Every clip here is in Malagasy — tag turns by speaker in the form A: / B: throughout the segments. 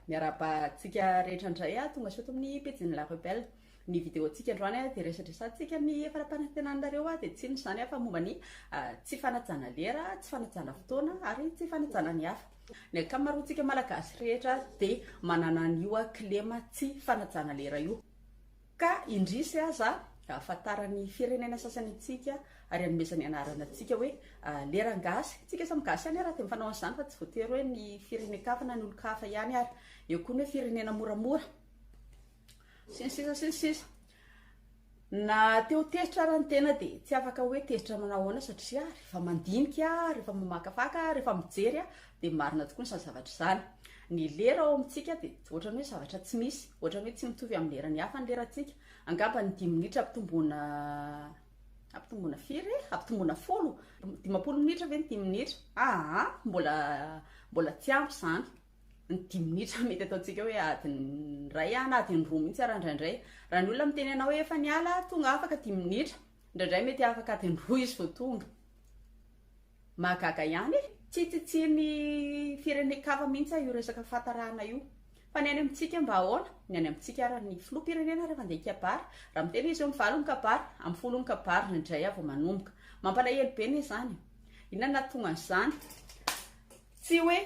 A: Miarahaba antsika rehetra indray a! Tonga soa eto amin'ny pejin'ny La Rebelle. Ny vidéo-ntsika androany a dia resadresantsika ny fara-panantenanareo a, dia tsy inona izany a fa momba ny tsy fanajana lera, tsy fanajana fotoana ary tsy fanajana ny hafa. Ny ankamaroantsika Malagasy rehetra dia manana an'io a, kilema tsy fanajana lera io. Ka indrisy aza ahafantaran'ny firenena sasany antsika ary anomezany anarana antsika hoe leran-gasy. Antsika samy gasy ihany ary dia mifanao an'izany fa tsy voatery hoe ny firenen-kafa na ny olon-kafa ihany ary. Eo koa ny hoe firenena moramora. Sy ny sisa sy ny sisa. Na te ho tezitra ary ny tena dia tsy afaka hoe tezitra manao ahoana satria rehefa mandinika, rehefa mamakafaka, rehefa mijery dia marina tokoa izany zavatra izany. Ny lera ao amintsika dia ohatrany hoe zavatra tsy misy, ohatrany hoe tsy mitovy amin'ny leran'ny hafa ny lerantsika. Angamba ny dimy minitra ampitomboana ampitomboana firy e? Ampitomboana folo, dimampolo minitra ve ny dimy minitra? Aa, ah, mbola mbola tsy ampy izany. Ny dimy minitra mety ataontsika hoe adiny iray na adiny roa mihitsy ara indraindray. Raha ny olona miteny anao hoe efa niala, tonga afaka dimy minitra. Indraindray mety afaka adiny roa izy vao tonga. Mahagaga ihany e! Tsy tsitsian'ny firenen-kafa mihitsy aho io resaka fahatarahana io. Fa ny any amintsika mba ahoana? Ny any amintsika ary ny filoham-pirenena rehefa handeha hikabary, raha miteny izy hoe amin'ny valo ny kabary, amin'ny folo ny kabary, indray aho vao manomboka. Mampalahelo be anie izany e! Inona no nahatonga an'izany? Tsy hoe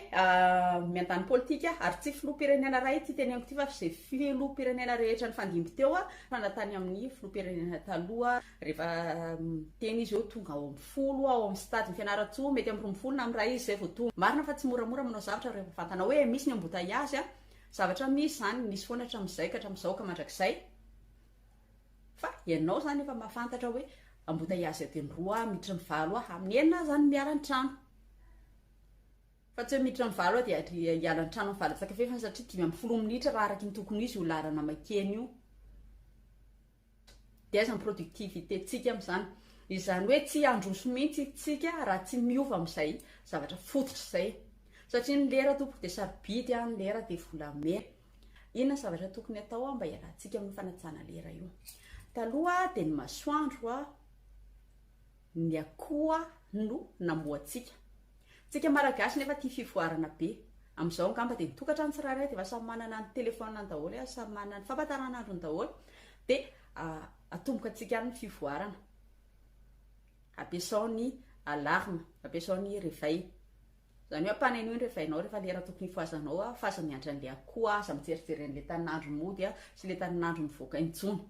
A: miandany politika ary tsy filoham-pirenena iray ity teneniko ity fa izay filoham-pirenena rehetra nifandimby teo fa na tany amin'ny filoham-pirenena taloha rehefa miteny izy eo tonga ao amin'ny folo ao amin'ny stade ny Fianarantsoa mety amin'ny roa ambin'ny folo na amin'ny iray izy izay vao tonga. Marina fa tsy moramora manao zavatra rehefa fantanao hoe misy ny embouteillage, zavatra misy izany, nisy foana hatramin'izay ka hatramin'izao ka mandrakizay. Fa ianao izany efa mahafantatra hoe ambotaiazy adiny roa aho, miditra ny valo aho, amin'ny enina aho izany miala ny trano. Fa tsy hoe miditra ny valo aho dia hiala ny trano amin'ny valo antsakavy fa satria dimy ambin'ny folo minitra raha araka ny tokony ho izy io laharana maikena io. Dia aiza ny productivité-ntsika amin'izany? Izany hoe tsy handroso mihitsy isika raha tsy miova amin'izay zavatra fototra izay. Satria ny lera tompoko dia sarobidy an, ny lera dia volamena. Inona zavatra tokony atao mba hialantsika amin'ny fanajana lera io? Taloha dia ny masoandro ny akoho no namoantsika. Tsika Malagasy nefa tia fivoarana be. Amin'izao angamba dia ny tokantrano tsirairay dia efa samy manana ny telefaoniny daholo, efa samy manana ny fampahatarana daholo dia atomboka antsika any ny fivoarana. Ampiasao ny alarme, ampiasao ny réveil. Izany hoe ampanenoy ny revainao rehefa lera tokony hifohazanao aho fa aza miandry an'ilay akoho aho, aza mijerijery an'ilay tanin'andro mody aho sy ilay tanin'andro mivoaka intsony.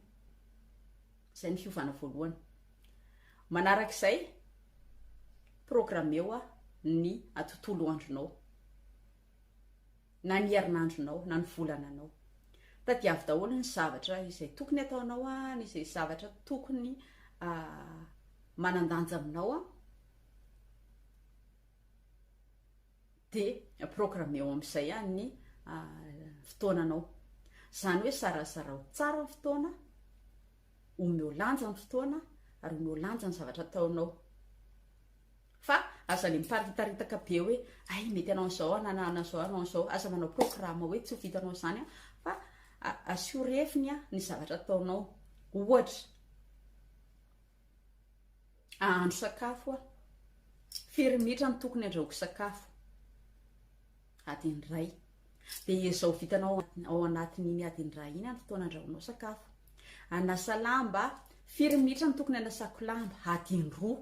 A: Izay ny fiovana voalohany. Manaraka izay, programmeo ny tontolo andronao, na ny herinandronao, na ny volananao. Tadiavo daholo ny zavatra izay tokony ataonao, ny izay zavatra tokony ah, manan-danja aminao. dia programmeo amin'izay ihany ny fotoananao. Izany hoe sarazarao tsara ny fotoana, omeo lanja ny fotoana ary omeo lanja ny zavatra ataonao. Fa aza le miparitaritaka be hoe ay mety anao an'izao aho na an'izao anao an'izao, aza manao programa hoe tsy ho vitanao izany aho fa asio refiny ny zavatra ataonao. Ohatra, Ahandro sakafo aho. Firy minitra no tokony andrahoiko sakafo? Adiny iray. Dia ezao vitanao ao anatin'iny adiny iray iny ny fotoana andrahoinao sakafo. Anasa lamba, firy minitra no tokony anasako lamba? Adiny roa.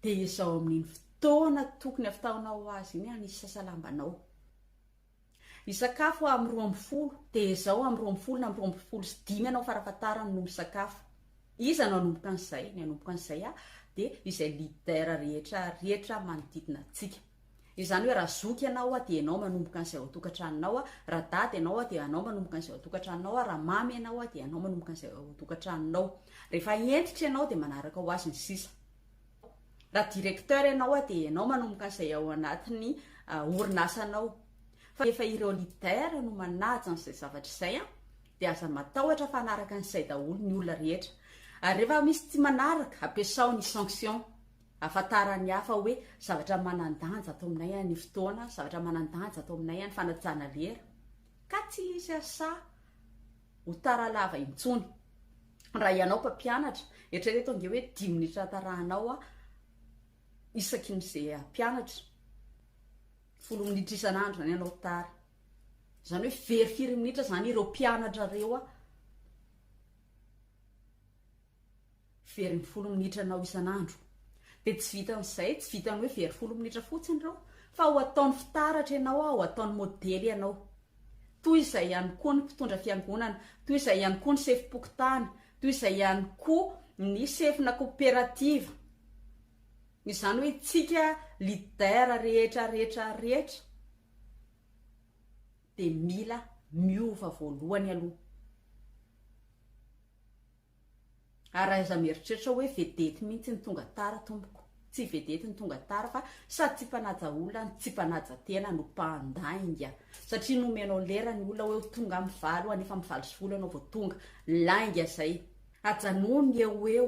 A: Dia ezao amin'iny fotoana tokony hafitaonao azy iny hanisasa lambanao. Hisakafo aho amin'ny roa ambin'ny folo, dia izao amin'ny roa ambin'ny folo na amin'ny roa ambin'ny folo sy dimy ianao farafahatarany no misakafo. Iza no hanomboka an'izay? Ny hanomboka an'izay aho, dia izay leader rehetra rehetra manodidina antsika. Izany hoe raha zoky ianao aho, dia ianao manomboka an'izay ao an-tokantranonao aho, raha dada ianao aho, dia ianao manomboka an'izay ao an-tokantranonao aho, raha mamy ianao aho, dia ianao manomboka an'izay ao an-tokantranonao. Rehefa hentitra ianao, dia manaraka ho azy ny sisa. Raha directeur ianao a, dia ianao manomboka an'izay ao anatin'ny orinasanao. Fa rehefa ireo leader no manaja an'izay zavatra izay a, dia aza matahotra fa hanaraka an'izay daholo ny olona rehetra. Ary rehefa misy tsy manaraka, ampiasao ny sanction. Ahafantaran'ny hafa hoe zavatra manan-danja ato aminay a ny fotoana, zavatra manan-danja ato aminay a ny fanajana lera. Ka tsy hisy asa. ho tara lava intsony. Raha ianao mpampianatra, eritrereto ange hoe dimy minitra atarahanao isaky ny izay hampianatra. Folo minitra isan'andro izany ianao tara. Izany hoe very firy minitra izany ireo mpianatrareo Very ny folo minitra anao isan'andro. Dia tsy vitan'izay, tsy vitan'ny hoe very folo minitra fotsiny ireo, fa ho ataony fitaratra ianao aho, ho ataony modely ianao. Toy izay ihany koa ny mpitondra fiangonana, toy izay ihany koa ny sefom-pokontany, toy izay ihany koa ny sefona koperativa. Izany hoe isika leader rehetra rehetra rehetra dia mila miova voalohany aloha. Ary aiza mieritreritra hoe vedety mihintsy ny tonga tara tompoko. Tsy vedety ny tonga tara fa sady tsy mpanaja olona no tsy mpanaja tena no mpandainga. Satria nomenao lera ny olona hoe ho tonga amin'ny valo ho any efa amin'ny valo sy folo ianao vao tonga. Lainga zay. Ajanony ny eo ho eo,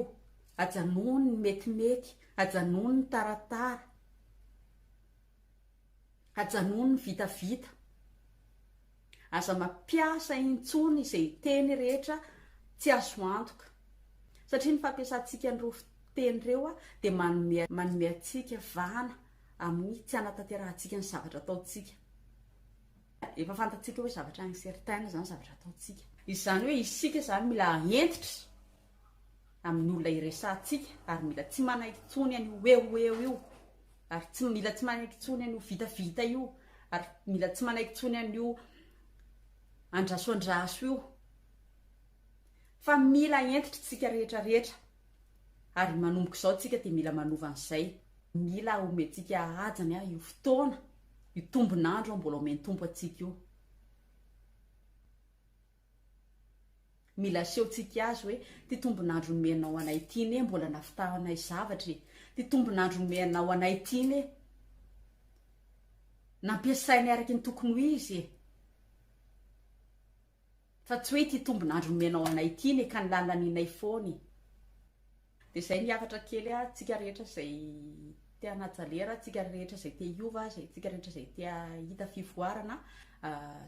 A: ajanony ny metimety, ajanony ny taratara, ajanony ny vitavita. Aza mampiasa intsony izay teny rehetra tsy azo antoka, satria ny fampiasantsika an'ireo fiteny ireo dia manome manome antsika vahana amin'ny tsy hanatanterahantsika ny zavatra ataontsika. Efa fantatsika hoe zavatra incertain izany zavatra ataontsika. Izany hoe isika izany mila hentitra amin'ny olona iresahantsika ary mila tsy manaiky intsony an'io eo ho eo io ary tsy mila tsy manaiky intsony an'io vitavita io ary mila tsy manaiky intsony an'io andraso andraso io fa mila entitra tsika rehetra rehetra ary manomboka izao tsika dia mila manova an'izay mila homentsika hajany a io fotoana io tombonandro mbola omen-tompo antsika io Mila asehontsika azy hoe, Ity tombon'andro nomenao anay ity anie mbola navitahanay zavatra e! Ity tombon'andro nomenao anay ity anie nampiasainay araka ny tokony ho izy e! Fa tsy hoe ity tombon'andro nomenao anay ity anie ka nilalanianay foana e! Dia izay ny hafatra kely ah, tsika rehetra izay te hanaja lera, tsika rehetra izay te hiova, izay tsika rehetra izay te hahita fivoarana,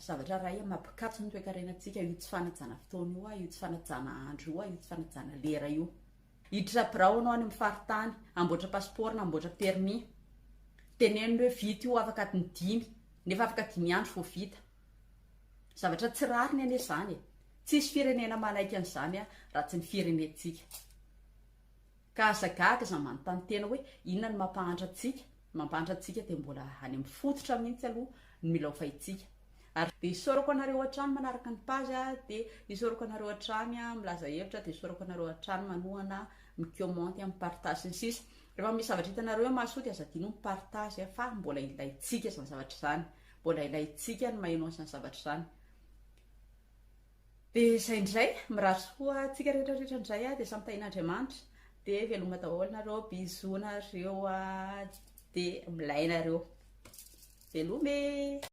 A: zavatra iray amin'ny maha mpikatso ny toekarenantsika io tsy fanajana fotoana io ah, io tsy fanajana andro io ah, io tsy fanajana lera io. Hiditra birao ianao any amin'ny faritany, hamboatra pasipaoro na hamboatra permis, tenenina hoe vita io afaka adiny dimy, nefa afaka dimy andro vao vita. Zavatra tsy rariny anie izany e! Tsisy firenena manaiky an'izany an, raha tsy ny firenentsika. Ka aza gaga aza manontany tena hoe inona no mampahantra antsika, ny mampahantra antsika dia mbola any amin'ny fototra mihitsy aloha no milaofaintsika. Ary dia isaorako anareo hatrany manaraka ny page a, dia isaorako anareo hatrany a, milaza hevitra, dia isaorako anareo hatrany manohana, mi-comment a, mi-partage sy ny sisa. Rehefa misy zavatra hitanareo hoe mahasoa dia aza adino mi-partage a, fa mbola ilaintsika izany zavatra izany. Mbola ilaintsika ny maheno an'izany zavatra izany. Dia izay indray, mirary soa antsika rehetra rehetra indray dia samy tahin'Andriamanitra. Dia veloma daholo nareo, bisous nareo, dia milaina nareo. Veloma e!